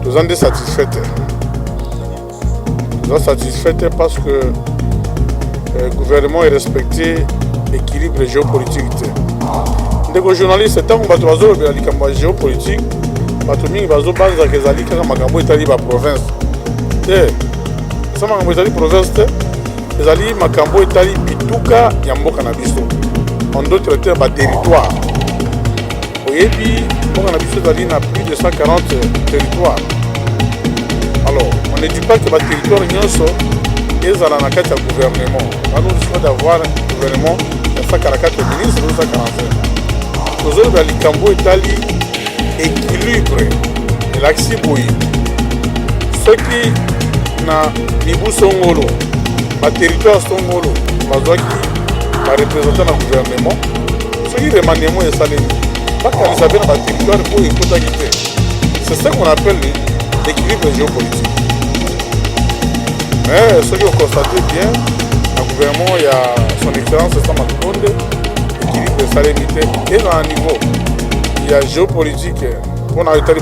toza nde satisfait te toza satisfait te parce que euh, gouvernement erespecte équilibre géopolitique te ndeko journaliste ntango bato bazolobela likambo ya géopolitique bato mingi bazobanzaka ezali kaka makambo etali baprovince te eza makambo etali province te ezali makambo etali bituka ya mboka na biso en d'autres termes baterritoire oyebi mboka na biso ezali na plus de 140 territoire alors on ne dit pas que baterritoire nyonso ezala na kati ya gouvernement alors risque d'avoir gouvernement ya 144 ministre ou 145 tozoloba likambo etali équilibre elakisi boye soki na mibu songolo baterritoire songolo bazwaki barepresentant na gouvernement soki remaniement esalemi bakanisa mpe na baterritoire oyo ekotaki te c'est ce qu'on appelle l'équilibre géopolitique mais eh, soki okonstate bien na gouvernement ya son excellence sama lukonde équilibre esalemi te e na niveau ya géopolitique mpo na etali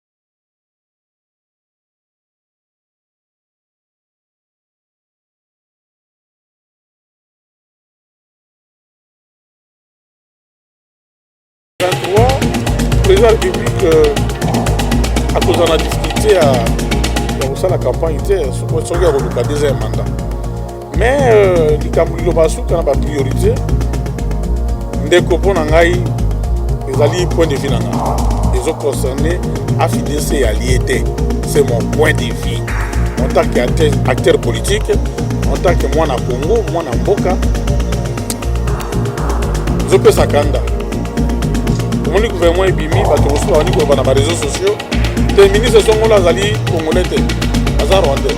président ya république euh, akozala na difficulté ya kosala campagne te soki akoluka deuxième mandat mais euh, likambo liloba suka na ba priorité ndeko mpo na ngai ezali point de vue na ngai ezo concerne afidc ya lie te c'est mon point de vue en tant que acteur politique en tant que mwana congo mwana mboka ezopesa kanda omoni gouvernement ebimi bato mosusu babandi koloba na bareseau sociaux te ministre songola azali congolais te aza rwandais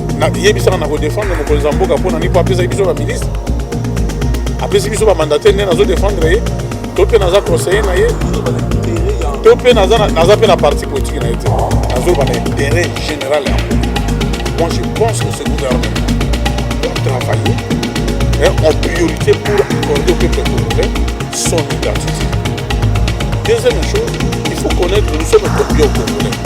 yebisaka na kodefendre mokonzi ya mboka mpona nini mpo apesaki biso baministre apesi biso bamandataire nde nazo defendre ye to mpe naza conseiller na ye to mpe naza mpe na parti politique na ye te nazoloba na intérêt général ya moi je pense que ce gouvernement doit travailler hein, en priorité pour accorder au peuple congolais son identité deuxième chose il faut connaître nous sommes combien au congolais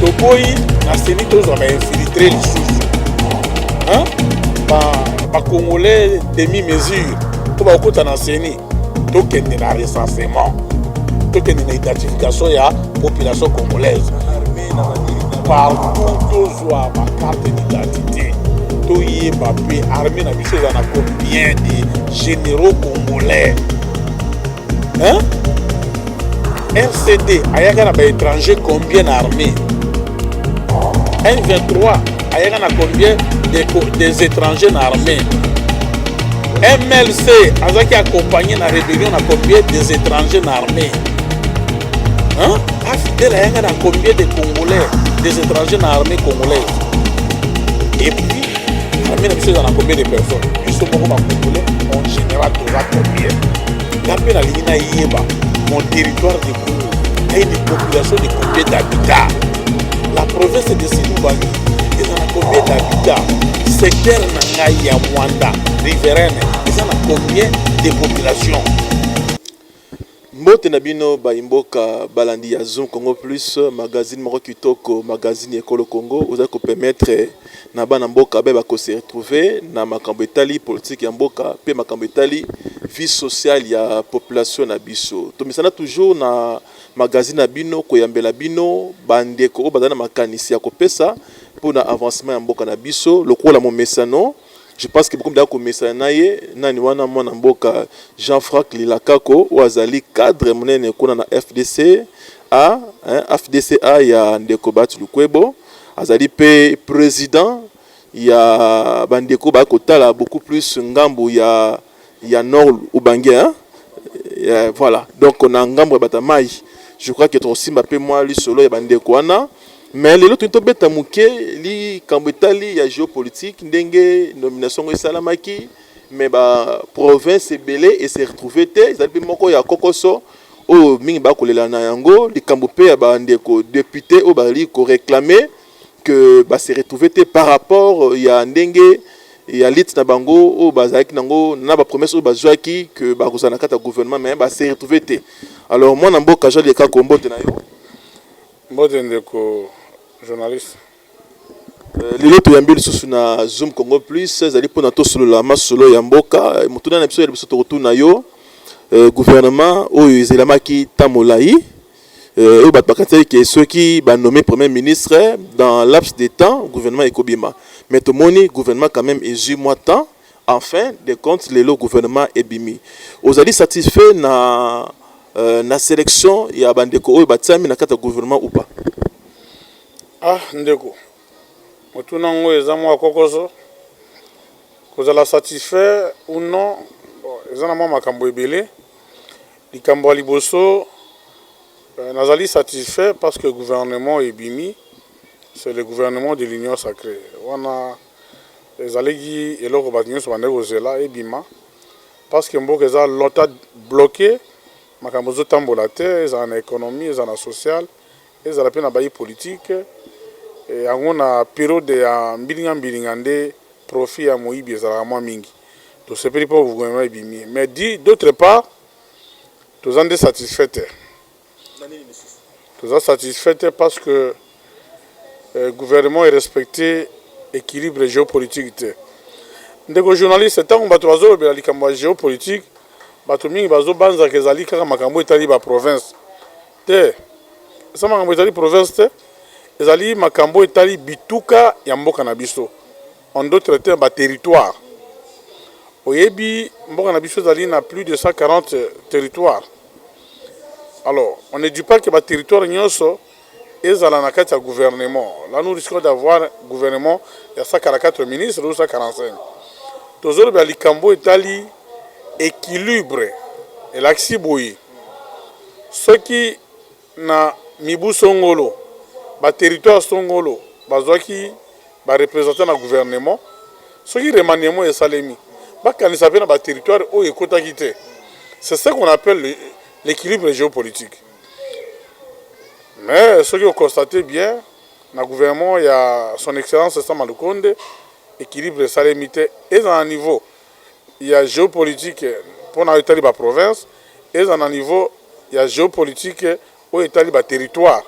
toboyi na seni tozwa ba infiltre lisusu bacongolais demi mesure mpo bakokota na seni tokende na recensement tokende na identification ya population congolaise partout tozwa bacarte d'identité toyeba mpe armée na biso eza na combien de généraux congolais Hein? RCD ayaka na ba étrangers combien na armée? M23 ayaka na combien des, des étrangers na armée? MLC azaki accompagné na rébellion na combien des étrangers na armée? Hein? Afidèle ayaka na combien des Congolais, des étrangers na armée congolaise? Et puis armée na biso eza na combien de personnes? Biso moko ba Congolais en général toza combien? nga mpe nalingi nayeba mon territoire de congo aye de population de combien d'habitat la province de silubangi eza na combien d'habitat secteur na ngai ya mwanda riverene eza na combien de population mbote na bino bayimboka balandi ya zoom congo plus magazine moko kitoko magazine ekolo congo ozali kopermettre na bana mboka baye bako se retrouver na makambo etali politique ya mboka pe makambo etali vie sociale ya population na biso. Tomesana toujours na magazine na bino koyambela bino ba ndeko oyo bazali na makanisi ya kopesa pona avancement ya mboka na biso lokola momesano je pense que bokomi deja komesana na ye nani wana mwana mboka Jean Franck Lilakako oyo azali cadre monene kuna na FDC a FDC a ya ndeko Bahati Lukwebo. Azali mpe president ya bandeko ba kotala beaucoup plus ngambo ya, ya nord ubangi hein? Eh, voilà donc na ngambo ya batamai je crois que tokosimba mpe mwa lisolo ya bandeko wana mais lelo toni tobeta moke likambo etali ya géopolitique ndenge nomination yango esalamaki mais baprovince ebele ese retrouve te ezali mpe moko ya kokoso oyo mingi ba kolela na yango likambo pe ya ba ndeko deputes oyo bazali ko reclamer que ba se retrouver te par rapport ya ndenge ya lutte na bango oyo bazalaki na yango na ba promesses oyo bazuaki que bakozala na kati ya gouvernement mais ba se retrouver te alors mwana mboka Jean Lekako mbote na yo. Mbote ndeko journaliste. Euh, lelo toyambi lisusu na zoom congo plus ezali mpona tosolola masolo ya mboka eh, motuna na biso ya liboso tokotuna yo eh, gouvernement oyo ezelamaki ntan molai eh, oyo bato bakanisaki ke soki banome premier ministre dans laps de temps gouvernement ekobima mais tomoni gouvernement quand même ezwi mwa temps en fin de compte lelo gouvernement ebimi ozali satisfait na, euh, na sélection ya bandeko oyo batiami na kati ya gouvernement ou pas Ah ndeko motuna ngo eza mua kokoso, kozala satisfait ou non eza na mua makambo ebele, likambo ya liboso nazali satisfait parce que gouvernement ebimi c'est le gouvernement de l'union sacree wana ezalaki eloko batu nionso bandaki kozela ebima parce que mboka eza longtemps bloque makambo ezo tambola te ezala na economie ezala na sociale Ezala pe na bayi politique yango na periode ya mbilinga mbilinga nde profit ya moyibi ezalaka mwa mingi. Tosepeli po gouvernement ebimi mais du d'autre part toza nde satisfait te. Na nini lisusu? Toza satisfait te parce que gouvernement e respecter equilibre geopolitique te. Ndeko journaliste, tango batu bazo lobela likambo ya geopolitique, batu mingi bazo banza que ezali kaka makambo oyo etali ba provinces. Te, eza makambo ezali province te, ezali makambo etali bituka ya mboka na biso, en d'autres termes ba territoires. Oyebi mboka na biso ezali na plus de 140 territoires, alors on ne dit pas que ba territoires nionso ezala na kati ya gouvernement. Là nous risquons d'avoir gouvernement ya 144 ministres ou 145. Tozoloba likambo etali equilibre, elakisi boye. Soki na mibu songolo ba territoires songolo bazuaki ba representants na gouvernement, soki remaniement esalemi, bakanisa pe na ba territoires oyo ekotaki te. C'est ce qu'on appelle l'equilibre geopolitique. Mais soki o constater bien, na gouvernement ya son excellence Sama Lukonde, equilibre esalemi te, ezala na niveau ya geopolitique mpo na oyo etali ba provinces, ezala na niveau ya geopolitique oyo etali ba territoires,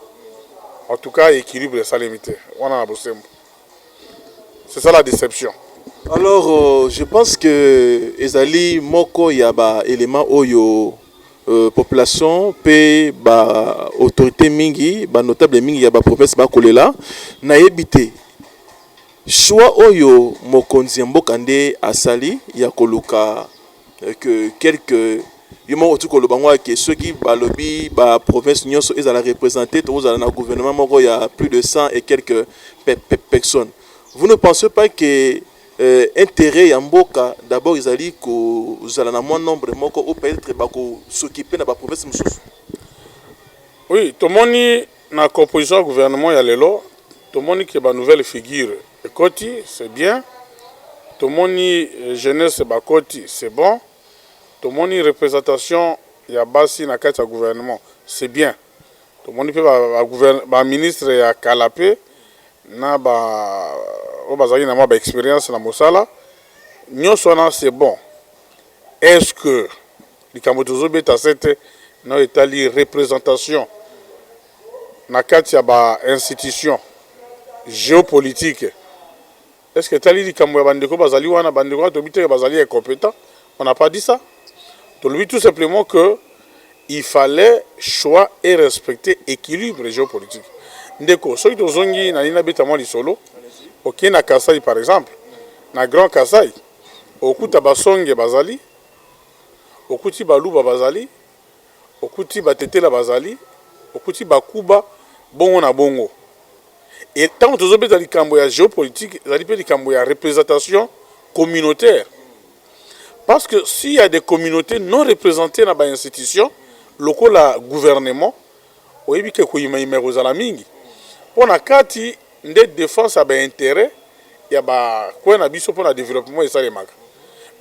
en tout cas equilibre esalemi te wana na bosembo. C'est ça la deception. Alors, je pense que ezali moko ya ba elements oyo population mpe ba autorites mingi, ba notables mingi ya ba provinces bakolela. Nayebi te. Choix oyo mokonzi ya mboka nde asali ya koluka que quelques yo moko okoki koloba ngo que soki balobi ba provinces nionso ezala representer tokozala na gouvernement moko ya plus de 100 et quelques personnes vous ne pensez pas que interet ya mboka d'abord ezali kozala na mua nombre moko oyo peut etre bako s'occuper na ba provinces mosusu? Oui tomoni Na composition ya gouvernement ya lelo tomoni que ba nouvelles figures ekoti c'est bien, tomoni jeunesse bakoti c'est bon, tomoni representation ya basi na kati ya gouvernement c'est bien, tomoni pe ba ministres ya kala pe na ba oyo bazalaki na mua ba experiences na mosala, nionso wana c'est bon, est-ce que. Likambo tozo beta sete na oyo etali representation na kati ya ba institutions geopolitiques est ce que etali likambo ya ba ndeko bazali wana? Ba ndeko wana tolobi te que bazali incompetent, on n'a pas dit ça, tolobi tout simplement que il fallait choix et respecter equilibre geopolitique. Ndeko soki tozongi nalingi nabeta mwa lisolo, oke na Kasaï par exemple, na Grand Kasaï okuta ba Songe bazali, okuti baluba bazali, okuti batetela bazali, okuti bakuba bongo na bongo et tango tozo beta likambo ya geopolitique ezali pe likambo ya representation communautaire parce que s'il ya des communautes non represente na ba institutions lokola gouvernement Oyebi ke koyima-yima ekozala mingi, po na kati nde defense ya ba interets ya ba coins na biso po na developpement esalemaka.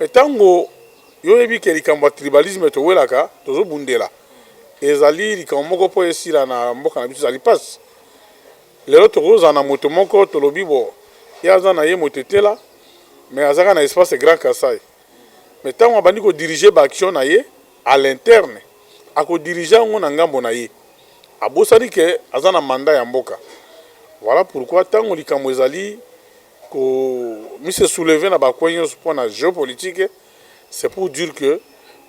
Mais tango yo oyebi ke likambo ya tribalisme towelaka, tozobundela, ezali likambo moko po esila na mboka na biso, ezali pasi. Lelo tokozala na moto moko tolobi bo, ye aza na ye motetela, mais aza kaka na espace Grand Kasaï. mais tango abandi ko diriger ba actions na ye à l'interne ako diriger yango na ngambo na ye abosani que aza na mandat ya mboka voilà pourquoi tango likambo ezali ko mi se soulever na ba coins nionso pona geopolitique c'est pour dire que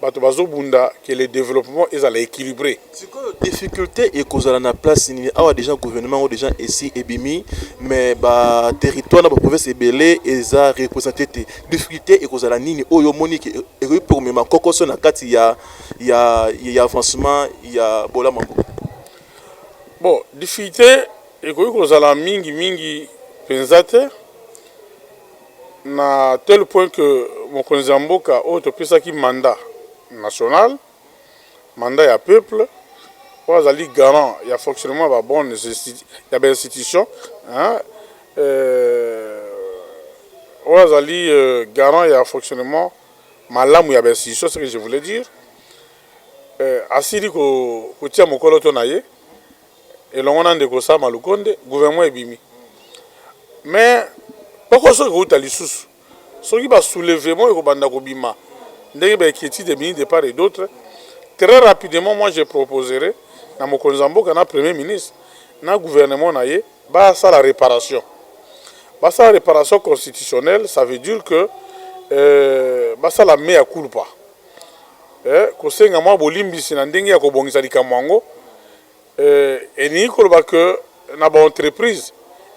batu bazo bunda que le developpement ezala equilibre. Sikoyo difficulte ekozala na place nini awa deja gouvernement yango deja esi ebimi mais ba territoire na ba province ebele eza represente te difficulte ekozala nini oyo omoni ke ekoki mpe komema kokoso na kati ya, ya, ya avancement ya bolamu yango bon difficulte ekoki kozala mingi mingi mpenza te na tel point que mokonzi ya mboka oyo topesaki mandat national mandat ya peuple oyo azali garant ya fonctionnement ba bonne ya ba institutions oyo azali garant ya fonctionnement malamu ya ba institutions ce que je voulais dire asili kotia mokoloto na ye elongo na ndeko Sama Lukonde gouvernement ebimi mais kpokoso ekouta lisusu soki ba soulevement ekobanda kobima ndenge ba inquietide ebimi de part et d'autre très rapidement moi je proposerai na mokonzi ya mboka na premier ministre na gouvernement na ye basala reparation basala reparation constitutionnelle ça veut dire que euh, basala mea culpa eh, kosenga mwa bolimbisi na ndenge ya kobongisa likambo yango Euh, elingi koloba que na ba entreprise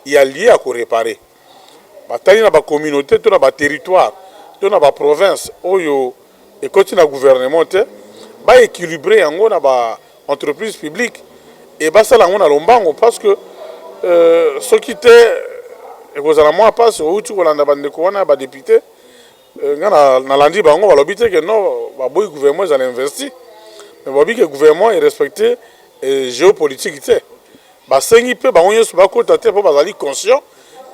ya lieu ya ko reparer batali na ba communauté to na ba territoire to na ba province oyo ekoti na gouvernement te, ba equilibrer yango na ba entreprise publique et basala yango na lombango parce que euh, soki te ekozala mwa pasi outi kolanda bandeko wana ya ba depute Eh, nga nalandi bango balobi te ke non baboyi gouvernement ezala investi mais balobi ke gouvernement erespecte eh, géopolitique te basengi mpe bango nyonso bakota te mpo bazali conscient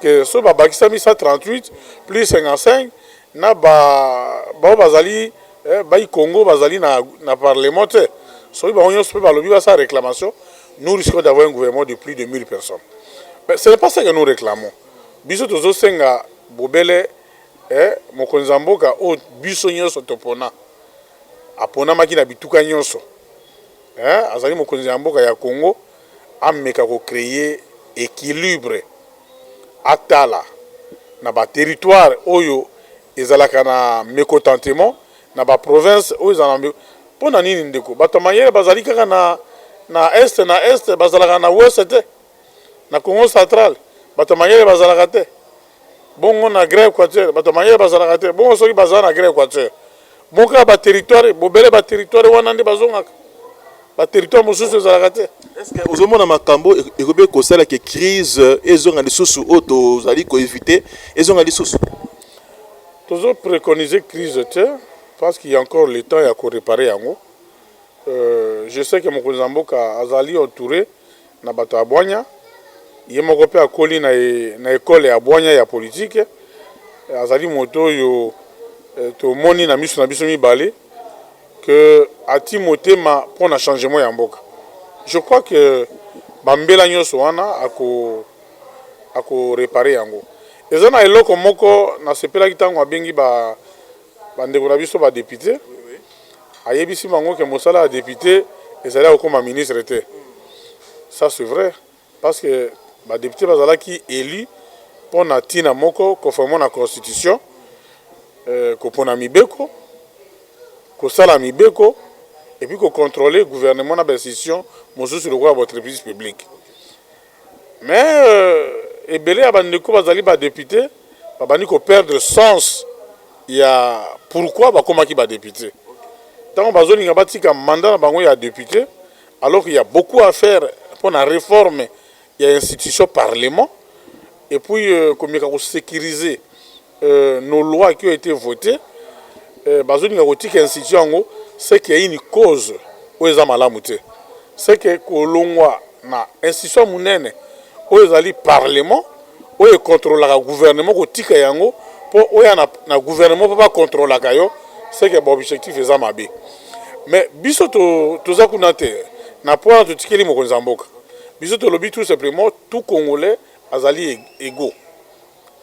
ke soki babakisami 138 plus 55 na baoyo bazali eh, bai congo bazali na, na parlement te soki bango nyonso mpe balobi basala réclamation nous risquons d'avoir un gouvernement de plus de 1000 personnes mais ce n'est pas ce que nous réclamons biso tozosenga bobele Ee mokonzi ya mboka oyo biso nyonso topona, aponamaki na bituka nyonso. Ee azali mokonzi ya mboka ya Congo, ameka ko creer equilibre, atala na ba territoires oyo ezalaka na mecotentement, na ba provinces oyo ezalaka na. Mpo na nini ndeko? Bato ya mayele bazali kaka na na Est, na Est, bazalaka na Ouest te? Na Congo central, bato ya mayele bazalaka te? bongo na Grand Equateur bato ya mayele bazalaka te, bongo soki bazala na Grand Equateur bongo kaka ba territoire bobele ba territoire wana nde bazongaka ba territoire mosusu ezalaka te. Est-ce que ozomona makambo e-, ekobe kosala ke crise ezonga lisusu oyo tozali ko éviter ezonga lisusu? Tozo préconiser crise te parce qu'il y a encore le temps ya ko réparer yango. Euh, je sais que mokonzi ya mboka azali entouré Na bato ya bwanya. Ye moko mpe akoli na ekole ya bwanya ya politike. Azali moto oyo tomoni na miso na biso mibale que atii motema mpo na changement ya mboka. Je crois que ba mbela nionso wana ako reparer yango. Eza na eloko moko nasepelaki tango abengi ba. ba ndeko na biso ba deputes ayebisi bango ke mosala ya depute ezali ya kokoma ministre te ça c'est vrai parce que ba deputes bazalaki elu pona tina moko conformement na constitution euh, kopona mibeko kosala mibeko et puis ko contrôler gouvernement na ba institutions mosusu lokola ba entreprises publiques mais ebele ya ba ndeko bazali ba depute babandi ko perdre sens ya pourquoi bakomaki ba depute tango bazolinga batika mandat na bango ya depute alors qu'il y a beaucoup à faire pona reforme ya institution parlement et puis komeka ko securiser nos lois qui ont ete voter bazolinga kotika institution yango ce qui est une cause oyo eza malamu te ce que kolongwa na institution monene oyo ezali parlement oyo econtrolaka gouvernement kotika yango mpo oya na, na gouvernement mpo bacontrolaka yo ce que baobjectif eza mabe mais biso to, toza kuna te na mpo wana totikeli mokonzi ya mboka biso tolobi tout simplement tout congolais azali ego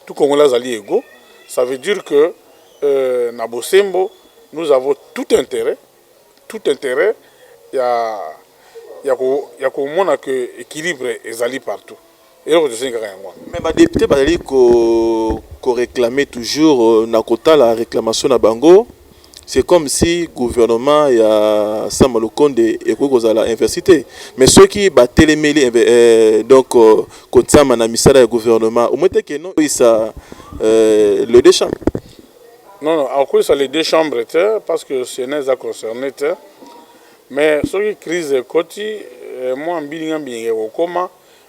tout congolais azali ego ça veut dire que euh, na bosembo nous avons tout intérêt tout intérêt ya ya ko ya komona que équilibre ezali partout eloko tosengi kaka yango wana mais badepute bazali ko koreklame toujours euh, na kotala reklamation na bango C'est comme si gouvernement ya Sama Lukonde ekoki kozala investi te. Mais soki ba telemeli donc Kotsama na misala ya gouvernement, au moins te que non sa les deux chambres. Non non akosa les deux chambres te parce que Senat eza concerne te. Mais soki crise ekoti mua mbilinga mbilinga ekokoma.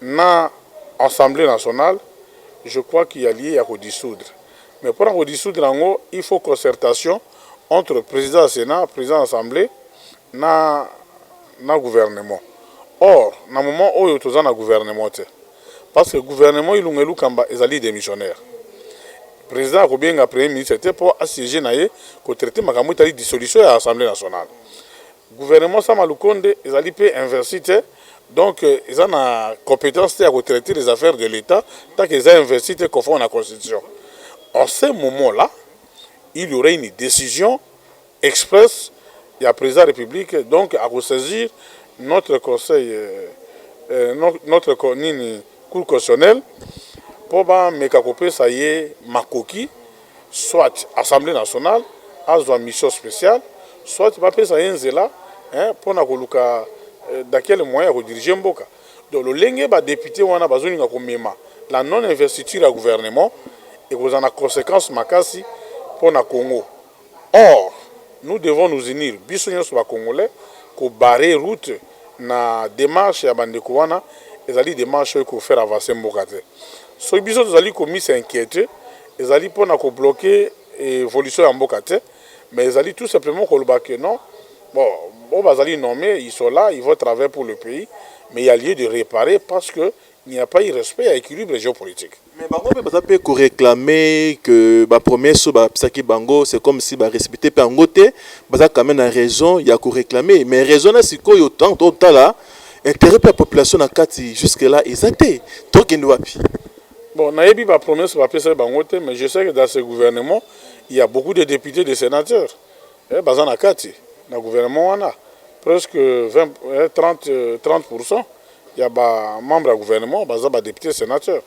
na assemblee nationale je crois qu'il ya lieu ya ko dissoudre mais pona ko dissoudre yango il faut concertation entre president ya senat, president ya assemblee na na gouvernement or na moment oyo toza na gouvernement te parce que gouvernement ilunga ilukamba ezali demissionnaire president ako benga premier ministre te po a sieger na ye ko traiter makambo etali dissolution ya assemblee nationale Gouvernement sama lukonde ezali pe investi te donc eza na competence te ya ko traiter les affaires de l'etat tant que eza investi te conforme na constitution en ce moment là il y aurait une decision expresse ya president ya republique donc ako saisir notre conseil notre nini cour constitutionnelle po ba meka ko pesa ye makoki soit Assemblee nationale azwa mission speciale soit bapesa ye nzela pona koluka dans quel moyen ako diriger mboka. Donc lolenge ba deputes wana bazolinga komema la non investiture ya gouvernement ekozala na consequence makasi pona Congo. Or nous devons nous unir biso nionso ba congolais ko barrer route na demarche ya ba ndeko wana ezali demarche oyo eko faire avancer mboka te. Soki biso tozali ko mis inquieter, Ezali pona ko bloque evolution ya mboka te mais ezali tout simplement koloba que non bon oyo bazali nomme ils sont là ils vont travailler pour le pays mais il ya lieu de reparer parce que il n'y a pas eu respect ya equilibre geopolitique. Mais bango pe baza pe ko reclame que ba promesse oyo bapesaki bango c'est comme si ba respecter pe yango te baza quand meme na raison ya ko reclame mais raison na sikoyo tango totala interet pe ya population na kati jusque là eza te tokende wapi? Bon nayebi ba promesses ba pesaki bango te mais je sais que dans ce gouvernement il ya beaucoup de deputes de senateurs eh baza na kati na gouvernement wana presque 20 eh 30 30 pour 100 ya ba membres ya gouvernement baza ba deputes senateurs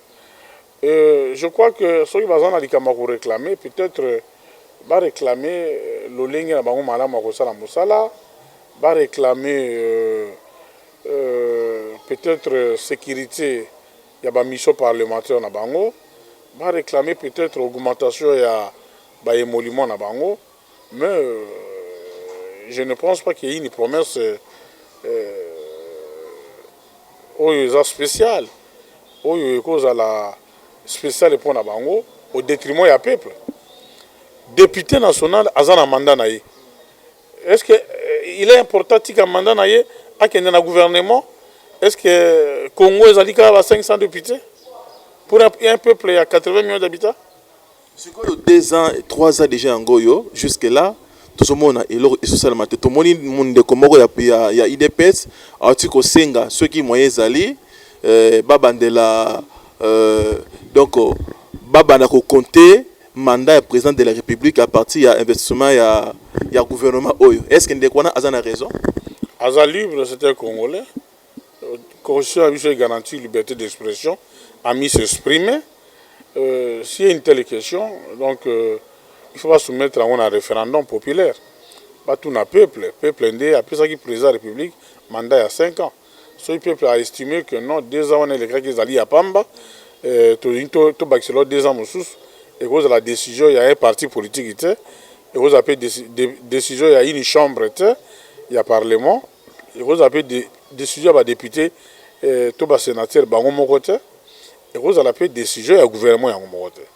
euh je crois que soki baza na likambo ya ko reclamer peut etre ba reclamer lolenge na bango malamu ya kosala mosala ba reclamer euh euh peut etre securite ya ba missions parlementaires na bango, ba reclamer peut-etre augmentation ya ba emoluments na bango mais je ne pense pas que une promesse oyo eza speciale, oyo ekozala speciale mpo na bango au detriment ya peuple. Depute national aza na mandat na ye. Est ce que il est important atika mandat na ye akende na gouvernement? Est ce que Congo ezali kaka ba 500 deputes pour un peuple ya 80 millions d'habitants? sikoyo deux ans trois ans dejà yango oyo jusque là tozomona eloko ezosalama te tomoni ndeko moko ya, ya, ya idps auti kosenga soki moyen ezali euh, babandela euh, donc babanda kokonte mandat ya president de la republique à partir ya investissement ya, ya gouvernement oyo est ce que ndeko wana aza na raison aza libre c'est un congolais constitution ya biso egarantir liberté d'expression ami s'exprime euh, si une telle question donc euh, il faut basoumettre yango na référendum populaire batuna peuple peuple nde apesaki président ya république mandat ya 5 ans Soki peuple a estime que non deux ans wana elekaki ezali ya pamba, tolingi tobakisa eloko deux ans mosusu, ekozala decision ya un parti politique te, ekozala mpe decision ya une chambre te ya parlement, ekozala mpe decision ya ba deputes to ba senateurs bango moko te, ekozala mpe decision ya gouvernement yango moko te.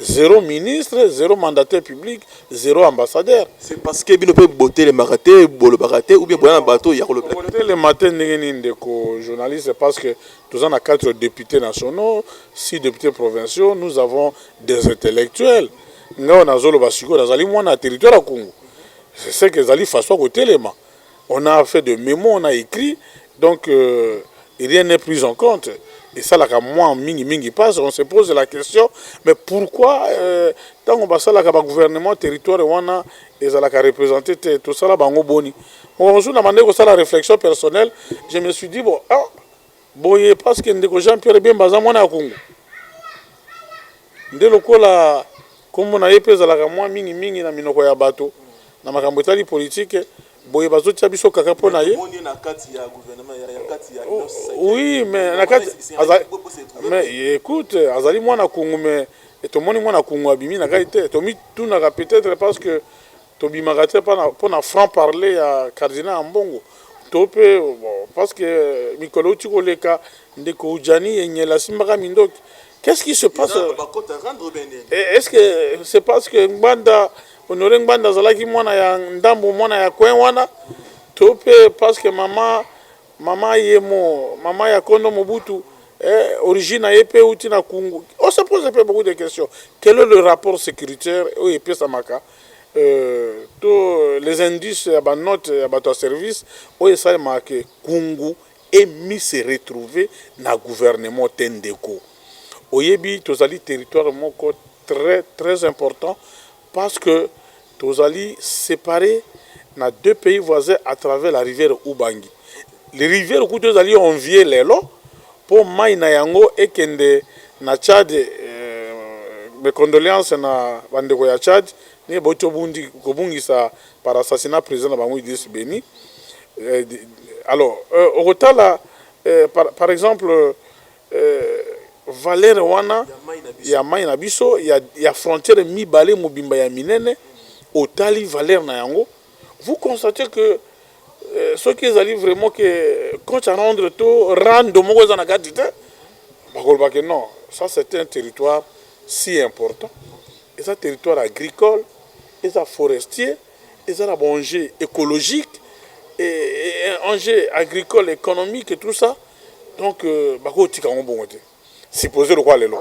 Zero ministre, zero mandataire public, zero ambassadeur. C'est parce que bino pe botelemaka te, bolobaka te ou bien boza na bato ya kolobela te? Kotelema te ndenge nini ndeko journaliste parce que toza na quatre deputes nationaux, six deputes provinciaux, nous avons des intellectuels. Nga oyo nazoloba sikoyo nazali mwana ya territoire ya Kungu. C'est ce que ezali façon ya kotelema. on a fait de memo on a ecrit donc euh, rien n'est pris en compte esalaka mwa mingi mingi passe on se pose la question mais pourquoi euh, ntango basalaka bagouvernement territoire wana ezalaka représente te tosala bango boni mokamosusu na bandeki kosala réflexion personnelle je me suis dit bon ah, Boye parce que ndeko Jean Pierre Bemba aza mwana ya Congo nde lokola kombo na ye mpe ezalaka mwa mingi mingi na minoko ya bato na makambo etali politike boye bazotia biso kaka mpo na ye oui mais na kati mais écoute azali mwana kungu mais tomoni mwana kungu abimi na kati te tomitunaka peut-être parce que Tobimaka te pona franc parler ya cardinal Ambongo to pe parce que mikolo ewuti koleka ndeko Djani Enyel asimbaka mindoki qu'est ce qui se passe? Est ce que c'est parce que Ngbanda Honore Ngbanda azalaki mwana ya ndambo mwana ya coin wana to pe parce que mama mama yemo mama ya kondo Mobutu origine na ye pe ewuti na Kungu? On se pose pe beaucoup de questions quel est le rapport securitaire oyo epesamaka to les indices ya ba notes ya bato ya service oyo esalemaka que Kungu est mis se retrouver na gouvernement te ndeko. Oyebi tozali territoire moko très très important parce que tozali separer na deux pays voisins à travers la rivière Ubangi. Le riviere kutu ezali envier lelo po mayi na yango ekende na Tchad, mes condoleances na ba ndeko ya Tchad ndenge bawuti obundi kobungisa par assassinat president na bango Idriss Beny. Alors okotala par exemple valeur wana ya mayi na biso ya frontiere mibale mobimba ya minene otali valeur na yango vous constatez que Soki ezali vraiment que compte à rendre to rando moko eza na kati te, bakoloba que non, ça c'est un territoire si important, eza territoire agricole, eza forestier, eza na ba enjeux ecologiques, enjeux agricoles, economiques et tout ça, donc euh, bakotika yango bongo te. Supposons lokola lelo,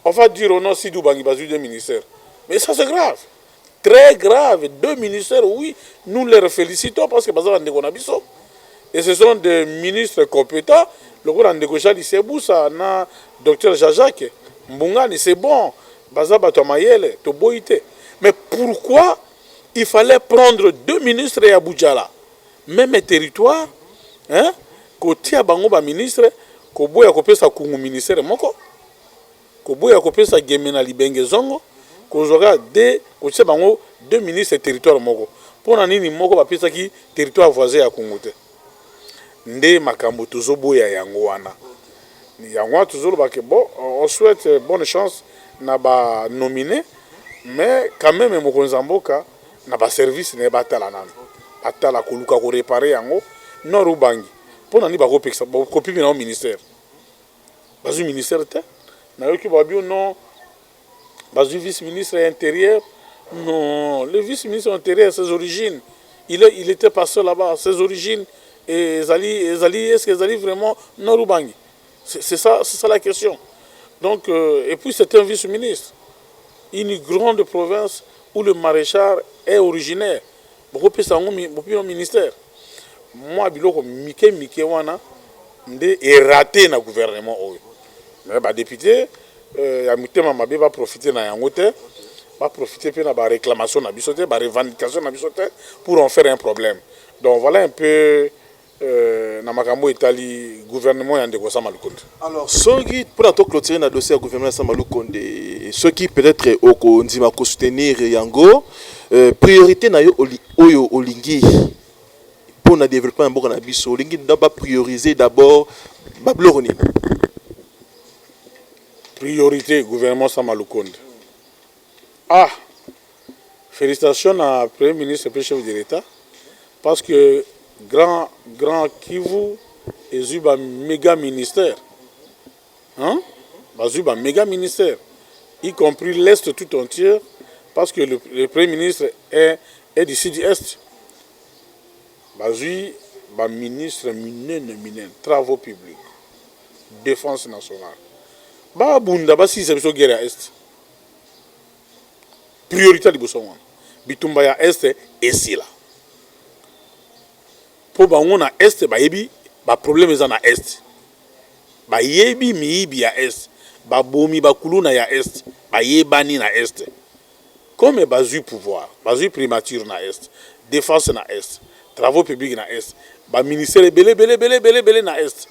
on va dire oh non, Sidi Obangi bazwi deux ministères, mais ça c'est grave. très grave deux ministères oui nous leur felicitons parce que baza ba ndeko na biso et ce sont des ministres competents lokola ndeko Jean Lisebusa na docteur Jean Jacques Mbungani c'est bon baza bato ya mayele toboyi te mais pourquoi il fallait prendre deux ministres ya Bujala meme territoire hein kotia bango ba ministres koboya kopesa kungu ministère moko Koboya kopesa Gemena libenge zongo, kozwa kaka de kotia bango deux ministres territoire moko. Pona nini moko bapesaki territoire voisin ya Kungu te? Nde makambo tozo boya yango wana. Yango wana tozo loba que bon on souhaite bonne chance na ba nomines mais quand meme mokonzi ya mboka na ba services na ye batala nanu. Batala koluka ko reparer yango. Nord Ubangi pona nini bako pekisa, bako pimela yango ministère? bazui ministère te nayoki ba bio non bazui vice ministre ya interieur non le vice ministre ya interieur ses origines il, est, il était pasteur là-bas ses origines ezali ezali est ce que ezali vraiment nord ubangi c'est ça c'est ça la question donc euh, et puis c'est un vice ministre une grande province où le maréchal est originaire Bokopesa yango bino ministère? Mwa biloko mike mike wana nde e rater na gouvernement oyo. Mais ba deputes ya motema mabe ba profiter na yango te, ba profiter mpe na ba reclamations na biso te, ba revendications na biso te pour en faire un problème. Donc voilà un peu Euh, na makambo etali gouvernement ya ndeko Sama Lukonde. Alors soki pona to clôturer na dossier ya gouvernement ya Sama Lukonde, soki peut-être okondima ko soutenir yango, euh, priorité na yo oyo olingi pona développement ya mboka na biso, olingi nda ba prioriser d'abord ba biloko nini? Priorité gouvernement Sama Lukonde. Ah! Felicitations na premier ministre pe chef de l'etat parce que grand grand Kivu ezui ba mega ministère hein bazui ba mega ministère y compris l'est tout entier parce que le, le premier ministre est, est du sud est bazui ba ministre minene minene travaux publics défense nationale babunda basilisa biso guerre ya est priorite ya liboso yango wana bitumba ya est esila mpo bango na est bayebi baproblème eza na est bayebi miyibi ya est babomi bakuluna ya est bayebani na est comme bazwi pouvoir bazwi primature na est défense na est travaux publics na est baministère ebele belebelebelebele na est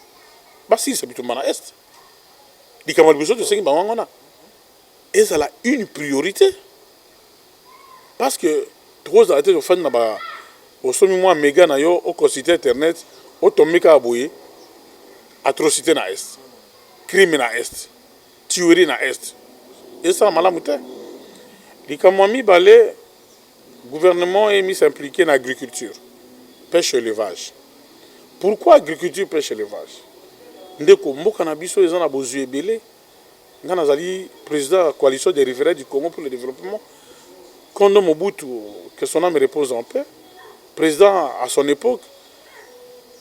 basilisa bitumba na est likambo ya liboso tosengi bango yango wana ezala une priorité parce que tokozala te tofandi na ba osomi mwa mega na yo oconsulte internet otombi kaka boye atrocité na est crime na est tuerie na est esala malamu te likambo ya mibale Gouvernement emi s'impliquer na agriculture, peche, elevage. Pourquoi agriculture, peche, elevage? Ndeko, mboka na biso eza na bozwi ebele. Nga nazali president ya coalition des riverains du Congo pour le developpement. Kondo Mobutu, que son ame repose en paix, president à son epoque,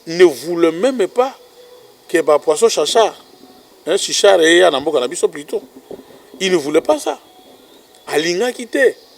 ne voulait meme pas que ba poissons chachard, hein, chichard eya na mboka na biso plutôt. Il ne voulait pas ça. Alingaki te.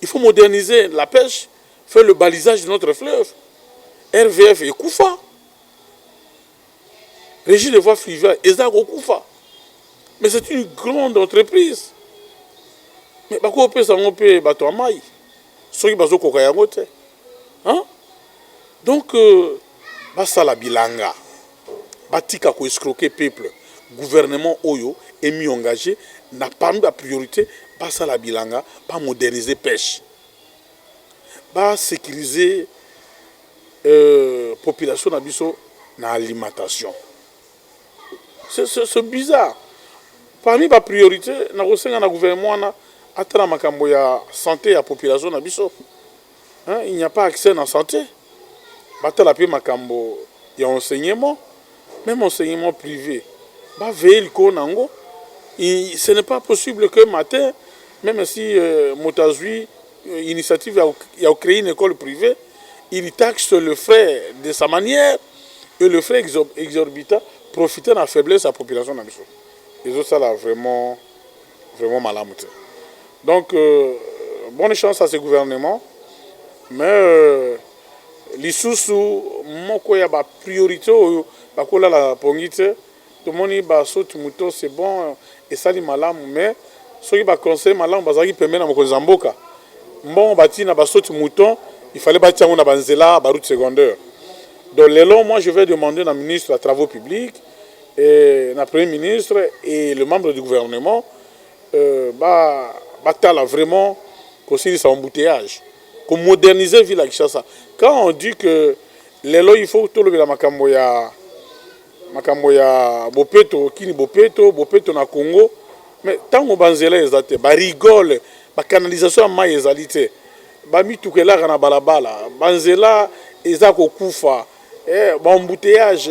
il faut moderniser la pêche faire le balisage de notre fleuve rvf ekufa régie de voie fluviale eza kokufa mais c'est une grande entreprise mais bakoki kopesa yango mpe bato ya mai soki bazokoka yango te donc euh, basala bilanga batika ko escroquer peuple gouvernement oyo est mis engage na parmi ba priorite basala bilanga ba moderniser peche ba securiser population na biso na alimentation ce bizarre parmi ba priorite na kosenga na gouvernement wana atala makambo ya sante ya population na biso il n'y a pas accès na sante batala pe makambo ya enseignement meme enseignement prive ba veille likolo na yango ce n'est pas possible que matin meme si euh, moto azwi euh, initiative ya, ya kocree une école privée il taxe le frais de sa manière et le frais exorbitant profite na faiblesse ya population na biso ezosala vraiment vraiment malamu te donc euh, bonne chance à ce gouvernement mais euh, lisusu moko ya ba priorité oyo bakolala pongi te tomoni basoti moto c'est bon esali malamu mais soki baconseil malamu bazalaki pembe na mokonzi ya mboka mbongo batii na basoti mouton il fallait batia yango na banzela baroute secondaire donc lelo moi je vais demander na ministre ya travaux publics na premier ministre et le membre du gouvernement batala vraiment kosilisa embouteillages, ko moderniser ville ya Kinshasa. Quand on dit que lelo il faut tolobela makambo ya makambo ya bopeto kini bopeto bopeto na Congo mais ntango banzela eza te ba rigole ba canalisation ya mai ezali te bamituka elaka na balabala banzela eza kokufa Eh, ba embouteillage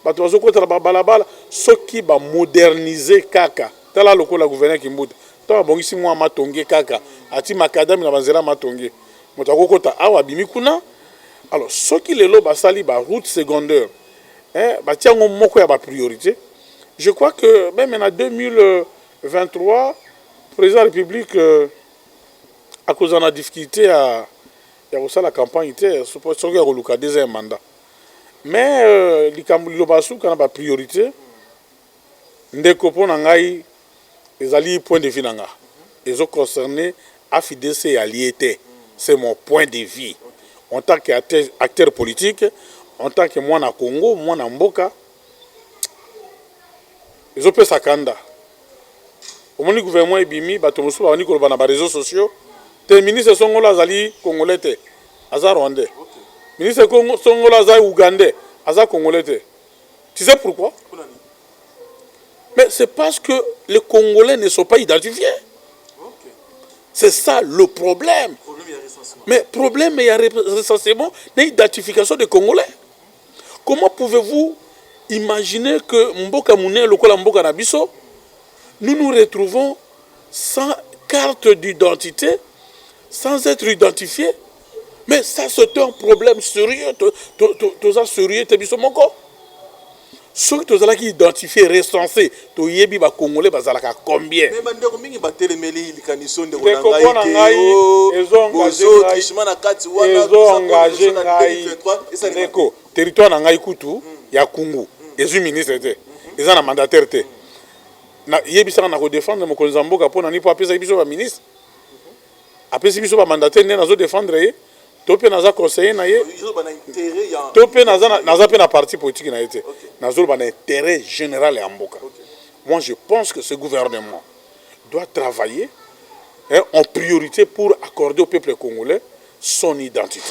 bato bazokota na babalabala soki ba modernise kaka tala lokola gouverneur kimbuta ntango abongisi mwa matonge kaka ati makadami na banzela matonge moto akokota awa abimi kuna alors soki lelo basali ba route secondaire eh, batia yango moko ya bapriorité je crois que meme na 2023 président ya république euh, akozala na difficulté ya ya kosala campagne te soki ya koluka deuxième mandat mais euh, likambo liloba ya suka na ba priorité ndeko mpo na ngai ezali point de vue na nga ezo concerne afidc ya lie te c'est mon point de vue en tant que acteur politique en tant que mwana congo mwana mboka ezo pesa kanda omoni gouvernement ebimi bato mosusu babandi koloba na ba réseaux sociaux te ministre Songola azali congolais te aza rwandais ministre Songola aza ougandais aza congolais te tu sais pourquoi mais c'est parce que les congolais ne sont pas identifiés c'est ça le problème mais problème ya recensement na identification des congolais Comment pouvez-vous imaginer que mboka munene lokola mboka na biso nous nous retrouvons sans carte d'identité, sans être identifié mais ça c'est un problème sérieux toza sérieux te biso moko soki tozalaki identifié recensé Toyebi ba congolais bazalaka combien. Mais bandeko mingi batelemeli likaniso ndeko na ngai te oh, bozo trichement na kati wana ezo engage ngai ndeko territoire na ngai kutu hmm. ya kungu hmm. ezwi ministre te hmm. eza na mandataire te yebisaka na kodefendre mokonzi ya mboka mpo na nini mpo apesaki biso baministre apesi biso ba mandataire nde nazo defendre ye to mpe naza conseiller na ye to mpe naza mpe na parti politique na ye te nazoloba na intérêt général ya mboka moi je pense que ce gouvernement doit travailler hein, en priorité pour accorder au peuple congolais son identité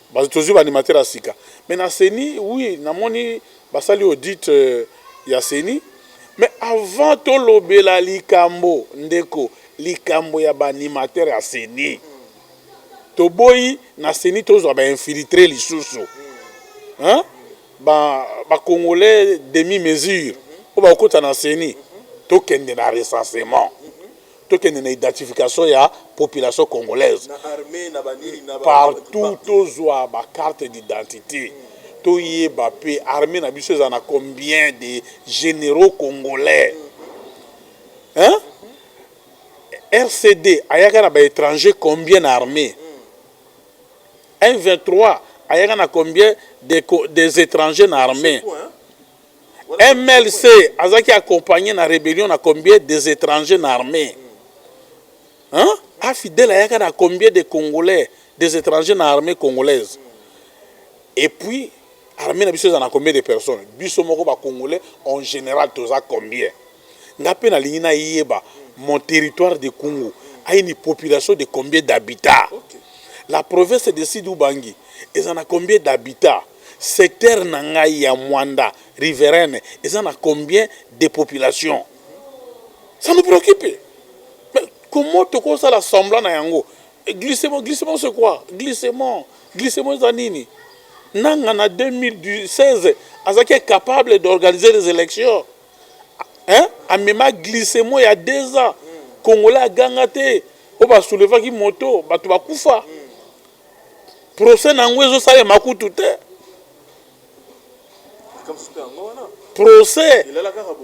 Bato tozui ba animateur ya sika mais na ceni oui na moni basali audit ya ceni mais avant tolobela likambo ndeko likambo ya ba animateur ya ceni toboyi na ceni tozua ba infiltre lisusu hein ba ba congolais demi mesure oyo bakokota na ceni tokende na recensement tokende na identification ya population congolaise partout tozwa ba carte d'identité toyeba pe armée na biso eza na combien de généraux congolais hein? rcd ayaka na baétranger combien na armée m23 ayaka na combien des, des étrangers na armée MLC azaki accompagne na rebellion na combien des etrangers na armee hein? Afidèle ayaka na combien des congolais des etrangers na armee congolaise et puis armee na biso eza na combien des personnes biso moko ba congolais en general toza combien Nga pe na lingi na yeba mon territoire de kungu a une population de combien d'habitat? La province de sud ubangi eza na combien d'habitat? Secteur na ngai ya muanda riverene eza na combien de population? Ça nous preoccupe mais comment toko sala semblant na yango? Glissement glissement c'est quoi? Glissement glissement eza nini? Nanga na 2016 azalaki incapable d'organiser les elections. hein amema glissement ya deux ans congolais aganga te oyo ba soulevaki moto bato bakufa procès na yango ezosalema kutu te procès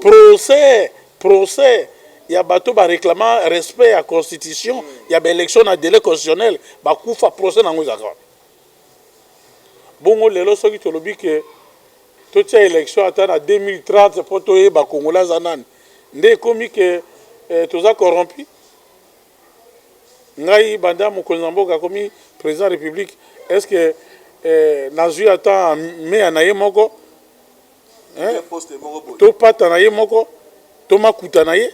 procès procès ya bato bareklama respect ya constitution ya baélection na délai constitutionnel bakufa procès na yango ezalaka Bongo lelo soki tolobi que totia election ata na 2030 mpo toyeba congolais aza nani nde ekomi que toza corrompu? Ngai banda mokonzi na mboka akomi president ya republique est ce que nazui ata meya na ye moko? To pata na ye moko? To makuta na ye?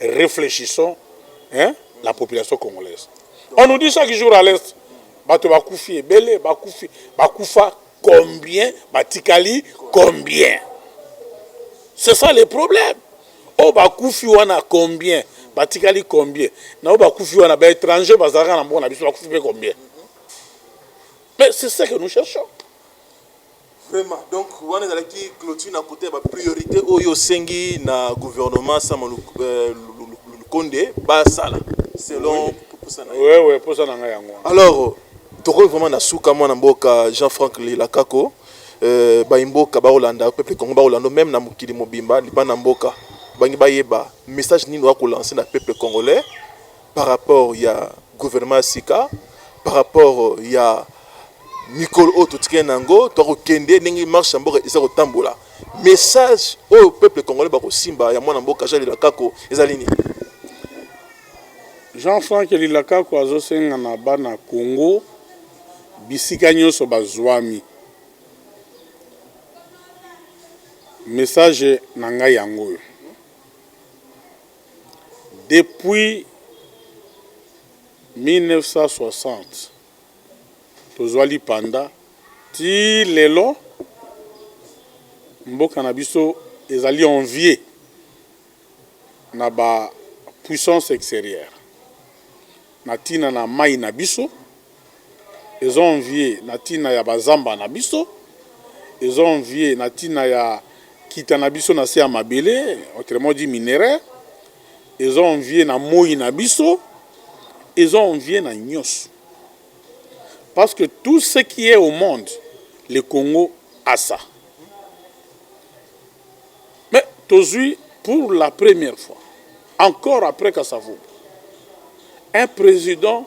Reflechissons hein la population congolaise. On nous dit chaque jour à l'est bato bakufi ebele bakufi bakufa combien batikali combien c'est ça le problème oyo oh, bakufi wana combien batikali combien na oyo bakufi wana baétranger bazalaka na mboka na biso bakufi mpe combien mais c'est ça que nous cherchons Vraiment donc wana ezalaki clôture na kote ya ba priorite oyo osengi na gouvernement sama lukonde basala selon posa na yo wewe posa na ngai yango wana alors tokomi vraiment na suka mwana mboka jean frank lilakako euh, baimboka bakolanda peuple congo bakolanda meme na mokili mobimba libanda mboka bangi bayeba message nini oya kolanse na peuple congolais par rapport ya gouvernement ya sika par rapport ya mikolo oyo totikali na yango tokokende ndenge marche ya mboka eza kotambola message oyo peuple congolais bakosimba ya mwana mboka jean lilakako ezali nini jean frank lilakako azosenga na bana congo bisika nyonso bazwami message na ngai yango oyo Depuis 1960 tozua lipanda ti lelo mboka na biso ezali envier na ba puissance exterieur na tina na mayi na biso. ezo envier na tina ya ba zamba na biso, ezo envier na tina ya nkita na biso na se ya mabele, autrement dit minerais, ezo envier na moyi na biso, ezo envier na nionso. Parce que tout ce qui est au monde, le Congo a ça. Mais tozui pour la première fois, encore après Kasa Vubu, un president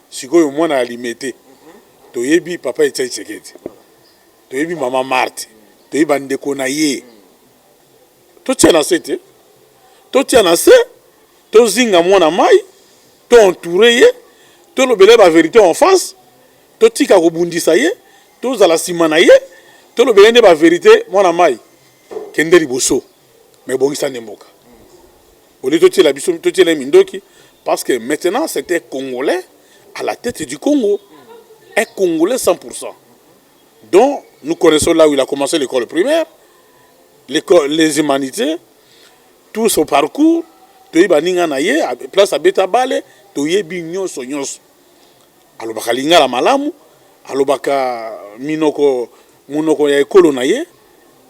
Sikoyo mwana ya Limete toyebi papa Etienne Tshisekedi, toyebi mama Marthe, toyebi bandeko na ye. Totia na se te, totia na se, tozinga mwana mai, to entoure ye, tolobela ye ba verite en face, totika kobundisa ye, tozala nsima na ye, tolobela ye nde ba verite. Mwana mai, kende liboso, mais bongisa nde mboka. Au lieu totiela biso totiela ye mindoki parce que maintenant c'est un Congolais à la tête du Congo, un Congolais 100%. Donc nous connaissons là où il a commencé l'école primaire, l'école, les humanités, tout son parcours, toyebi baninga na ye, place abeta bale, toyebi nyonso nyonso. Alobaka lingala malamu, alobaka minoko monoko ya ekolo na ye,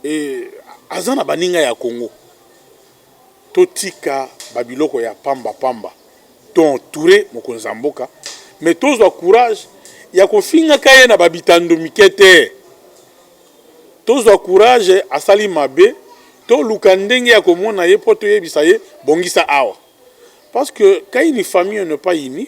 et aza na baninga ya Congo. totika ba biloko ya pamba pamba to entoure mokonzi ya mboka mais tozwa courage ya kofingaka ye na ba bitando mike te tozwa courage asali mabe toluka ndenge ya komona ye mpo toyebisa ye bongisa awa parce que quand une famille n'est pas unie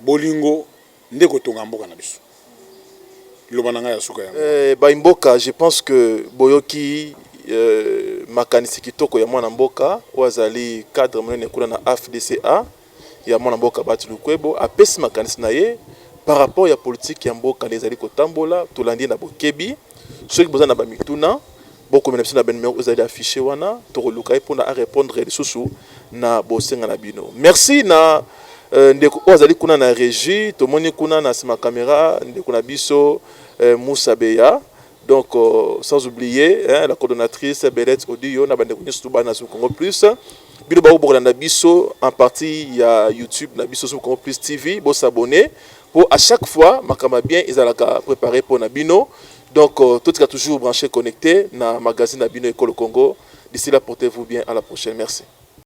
Bolingo nde ekotonga mboka na biso. Liloba na ngai ya suka yango wana. Eh, bayi mboka, je pense que boyoki makanisi kitoko ya mwana mboka oyo azali cadre monene kuna na AFDCA, ya mwana mboka Bahati Lukwebo. Apesi makanisi na ye par rapport ya politique ya mboka nde ezali kotambola, tolandi ye na bokebi. soki boza na bamituna bokomela biso na banumero ezali affiche wana tokoluka ye mpona arépondre lisusu na bosenga na bino merci na euh, ndeko oyo azali kuna na régie tomoni kuna na nsima kamera ndeko na biso euh, musa beya donc euh, sans oublier hein, la coordonnatrice belet odio na bandeko nyonso tobana sur congo plus bino baoyo bokolanda biso en partie ya youtube na biso sur congo plus tv bosabone Po à chaque fois makambo ya bien ezalaka preparer po na bino donc totika toujours branche connecte na magazine na bino Ekolo Congo d'ici là portez vous bien à la prochaine merci.